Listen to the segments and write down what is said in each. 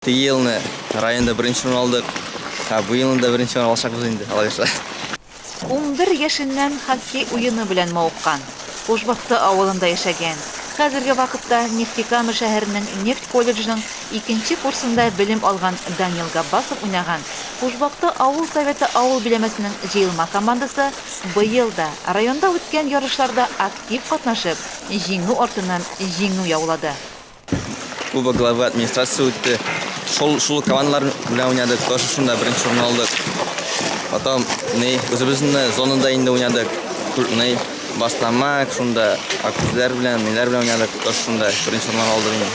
Теге елны районда беренче урын алдык, ә бу елны да беренче урын алачакбыз инде, Аллага язса. Унбер яшеннән хоккей уены белән мавыккан, Кушбакты авылында яшәгән, хәзерге вакытта Нефтекама шәһәренең нефть колледжының икенче курсында белем алган Данил Габбасов уйнаган Кушбакты авыл Советы авыл биләмәсенең җыелма командасы быел да районда үткән ярышларда актив катнашып, җиңү артыннан җиңү яулады. Куба главы администрация үтте. Шул шул командалар белән уйнадык, тоже шунда беренче урын алдык. Потом не үзебезнең зонада инде уйнадык. Не бастамак шунда акүзләр белән, ниләр белән уйнадык, тоже шунда беренче урын алдык инде.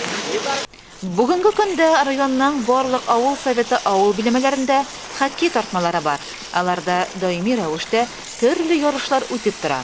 Бүгенге көндә районның барлык авыл советы авыл биләмәләрендә хоккей тартмалары бар. Аларда даими рәвештә төрле ярышлар үтеп тора.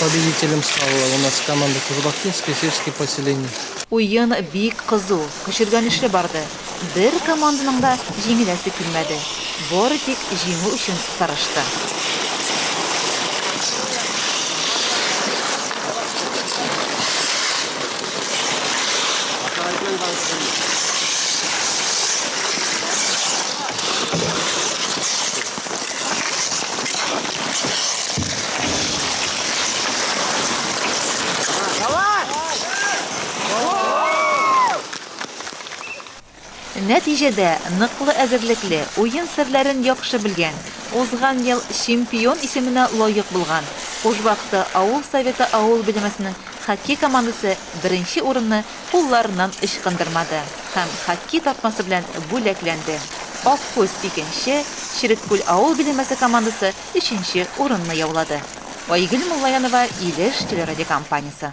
Победителем стала у нас команда Кузбакинские сельские поселения. Уен бик кызу, көчергәнешле барды. Бер команданың да җиңеләсе килмәде. Бары тик җиңү өчен тырышты. Нәтиҗәдә, ныклы әзерлекле, уен серләрен яхшы белгән, узган ел чемпион исеменә лаек булган Кужбакты авыл Советы авыл биләмәсенең хоккей командасы беренче урынны кулларыннан ычкындырмады һәм хоккей тартмасы белән бүләкләнде. Аккүз, икенче, Череккүл авыл биләмәсе командасы өченче урынны яулады. Айгөл Муллаянова, Илеш телерадиокомпаниясе.